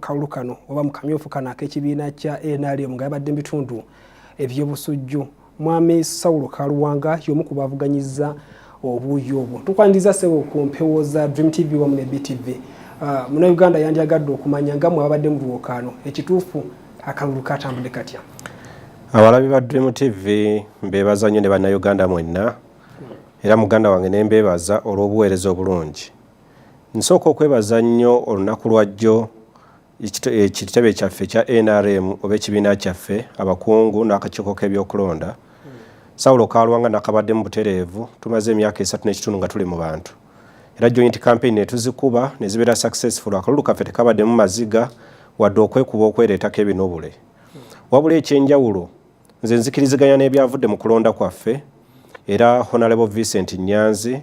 kalulu kano oba mu kamyufu kano ak'ekibiina kya nrm nga yabadde mu bitundu eby'obusujju mwami saulo kaluwanga y'omu ku bavuganyiza obuuyi obwo tukwaniriza sebo ku mpewo za dream tv wamu ne btv ah, muna uganda yandyagadde okumanya nga mwabadde mu buwokaano ekituufu akalulu katambudde katya abalabi ba dream tv mbeebaza nnyo ne bannayuganda mwenna era muganda wange ne mbeebaza olw'obuweereza obulungi Nsooka okwebaza nnyo olunaku lwajjo ekitebe eh, kyaffe ekya nrm oba ekibiina kyaffe abakungu n'akakiiko k'ebyokulonda sawulo kalwanga nakabadde mu butereevu tumaze emyaka esatu n'ekitundu nga tuli mu bantu era joint campaign netuzikuba nezibeera successful akalulu kaffe tekabaddemu maziga wadde okwekuba okwereetako ebinubule wabula ekyenjawulo Nze nzikiriziganya n'ebyavudde mu kulonda kwaffe era Honorable Vincent Nyanzi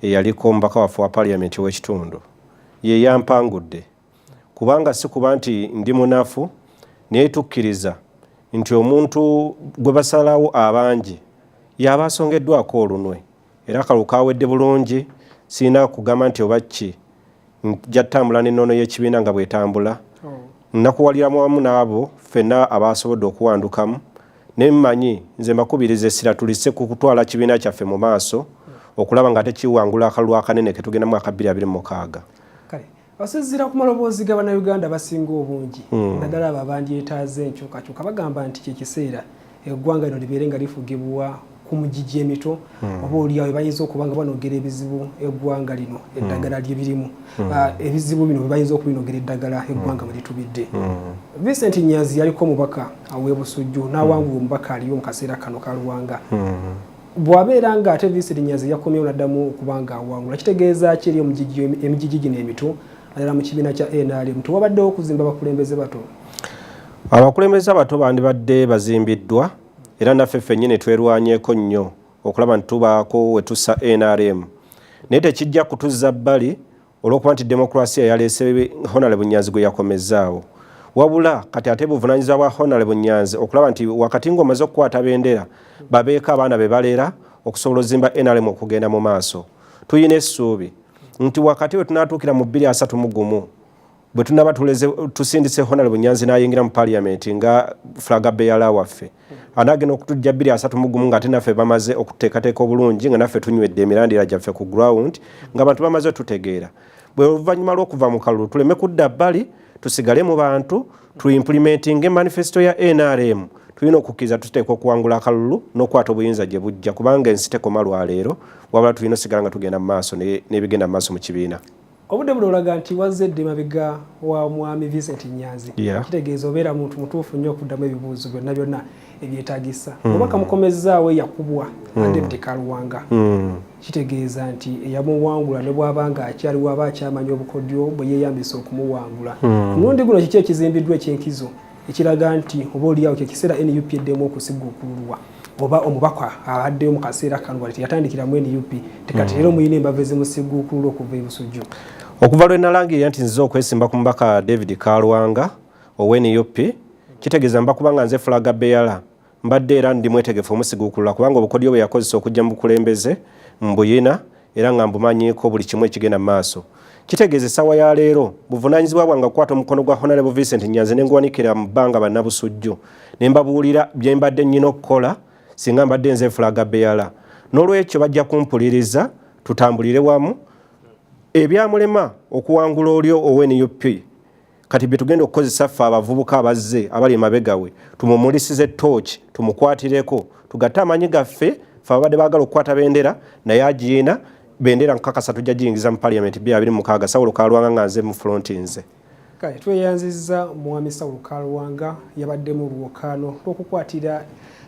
eyaliko omubaka waffe wa parliament w'ekitundu ye yampangudde kubanga si kuba nti ndi munafu naye tukkiriza nti omuntu gwe basalawo abangi y'aba asongeddwako olunwe. era akalulu kawedde bulungi sirina kugamba nti oba ki nja tutambula n'ennono y'ekibiina nga bwetambula oh. nnakuwaliramu wamu n'abo ffenna abaasobodde okuwandukamu ne mmanyi nze mbakubiriza essira tulise ku kutwala kibiina kyaffe mu maaso okulaba nga tekiwangula akalulu akanene ke tugendamu aka bbiri abiri mukaaga Basinziira ku maloboozi ga Bannayuganda abasinga obungi hmm. naddala abo abandyetaaze enkyukakyuka bagamba nti kye kiseera eggwanga lino libeere nga lifugibwa ku mugigi emito hmm. oba oliawo bayinza okuba nga banogera ebizibu eggwanga lino hmm. eddagala lye birimu ah, ebizibu bino bebayinza okubinogera eddagala eggwanga bwe litubidde Vincent Nyanzi yaliko omubaka aw'ebusujju n'awangula omubaka aliyo mu kaseera kano ka Luwanga bwabeera nga ate viisi linyazi yakomyewo naddamu okuba nga awangula kitegeeza ki eri emijiji gino emito naddala mu kibiina kya nrm tewabaddewo okuzimba abakulembeze bato abakulembeze abato bandibadde bazimbiddwa era naffe ffennyini twerwanyeko nnyo okulaba nti tubaako wetussa nrm naye tekijja kutuzza bbali olwokuba nti demokrasiya yaleese honale bunyanzi gwe yakomezzaawo wabula kati ate buvunanyizibwa bwa honale bunyanzi okulaba nti wakati ngaomaze okukwata bendera babeeko abaana be baleera okusobola ozimba nrm okugenda mu maaso tulina essuubi nti wakati we tunatuukira mu bbiri asatu mu gumu bwe tunaba tusindise honal bunyanzi nayingira mu parliament nga flaga beyala waffe anagenda okutujja bbiri asatu mugumu nga ate naffe bamaze okuteekateeka obulungi nga naffe tunywedde emirandira gyaffe ku ground nga abantu bamaze tutegeera bwe oluvannyuma lw'okuva mu kalulu tuleme kudda bbali tusigale mu bantu tu implementing manifesto ya nrm tulina okukkiriza tuteeka okuwangula akalulu n'okukwata obuyinza gye bujja kubanga ensi tekoma lwaleero wabula tulina osigala nga tugenda mu maaso n'ebigenda mu maaso mu kibiina obudde buno olaga nti wazze dde mabega wa mwami Vincent Nyanzi yeah. kitegeeza obeera muntu mutuufu nnyo okuddamu ebibuuzo byonna byonna ebyetagisa mm. oba kamukomezzaawo eyakubwa mm. ate ddekaluwanga mm. kitegeeza nti eyamuwangula ne bwaba nga akyaliwo aba akyamanya obukodyo bwe yeeyambisa okumuwangula mm. mulundi guno kiki ekizimbiddwa ekyenkizo ekiraga nti oba oliyawo kyekiseera nup eddemu okusigukululwa oba omubaka abaddeyo mu kaseera kano wali teyatandikira mu nup tekati leero muyina embava ezimusigukululwa okuva ebusujju okuva lwe nalangirira nti nzize okwesimba ku mubaka david kalwanga owenup kitegeeza mba kubanga nze fulaga beyala mbadde era ndi mwetegefu omusiguukulula kubanga obukodyo bwe yakozesa okujja mu bukulembeze mbuyina era nga mbumanyiiko buli kimu ekigenda mu maaso kitegeeza essaawa ya leero buvunaanyizibwa bwange okukwata omukono gwa honalebo vincent nyanzi ne nguwanikira mu bbanga bannabusujju ne mbabuulira bye mbadde nnyina okukola singa mbadde nze fulaga beyala n'olwekyo bajja kumpuliriza tutambulire wamu ebyamulema okuwangula oli owe nup kati bye tugenda okukozesa ffe abavubuka abazze abali emabegawe tumumulisize tooki tumukwatireko tugatte amanyi gaffe fe ababadde bagala okukwata bendera naye agiina bendera nkukakasa tujja giyingiza mu parliament bya biri mukaaga sawulo kalwanga nga nze mu fronti nze kale tweyanziza mwami sawulo kalwanga yabadde mu lwokaano lwokukwatira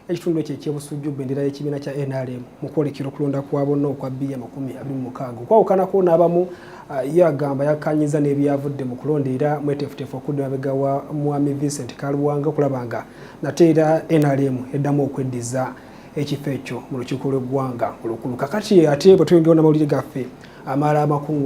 Ekitundu ekyo eky'e Busujju bbendera y'ekibiina kya NRM mu kwolekera okulonda kwa bonna okwa bbiya amakumi abiri mu mukaaga okwawukanako n'abamu ah, ye agamba yakkaanyizza n'ebyavudde mu kulonda era mweteefuteefu okudda emabega wa Mwami Vincent Kaluwanga okulaba nga nate era NRM eddamu okweddiza ekifo ekyo mu lukiiko lw'eggwanga olukulu kakati ate bwe tweyongerawo n'amawulire gaffe amala amakungu